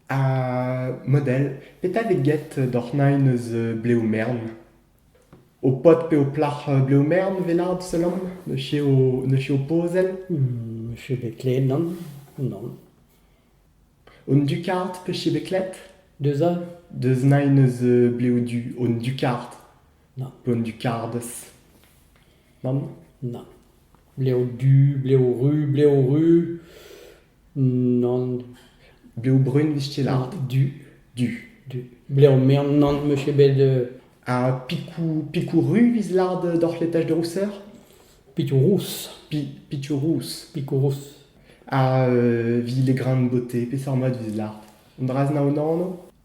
Ha model, petra vit get doc'h nain eus blev mern? Ho pod pe ho plac'h blev mern velad seulomp? Ne chev ne chev pozell? Ne chev bet klevet nann, nann. Hon dukard pe chev bet klet? Deus all? Deus nain eus blev du hon dukard. Nann. Pe hon dukardes. Nann? Nann. Blev du, blev ru, blev ru. Nann, blev brun 'vez tu lâret du, du, du. Blev mern nann 'meus ket bet Ha pikoù pikoù ru 'vez lâret doc'h l'étage de rousseur? Pikoù rous. Pi pikoù rous. Pikoù rous. Ha 'vi les grains de beauté, peseurt mod 'vez lâret? An dra-se 'na o anv?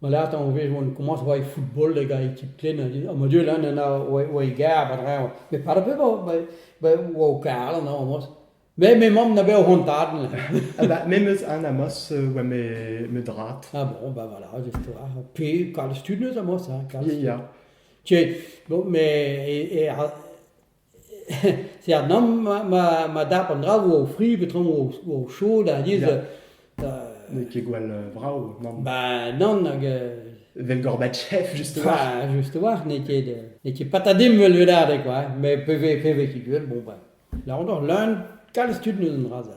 Ma latañ o vez oan komañs oa e football hag a ekip ken ha ma dud all ana oa e garr ba dreñv. Met pad a bep a oa o karan amos. Me me mamm na bet o c'hoant tad. Ah bah me 'meus an amos oa me drat. Ah bon bah voilà pe kalz tud 'neus amos hein kalz tud. Ya. Tiens bon mais e e a- Seurt nann ma ma ma dap an draoù o fri peotramp o o chaod alies da N'eo ket gwall vrav nann. ba nann hag euh, Evel Gorbatchev justement. bah justement n'eo ket euh, n'eo ket patadim vel ledadeg quoi, mais pe vez pe vez ket gwell bon bah là encore leun kalz tud n'eus an dra-se.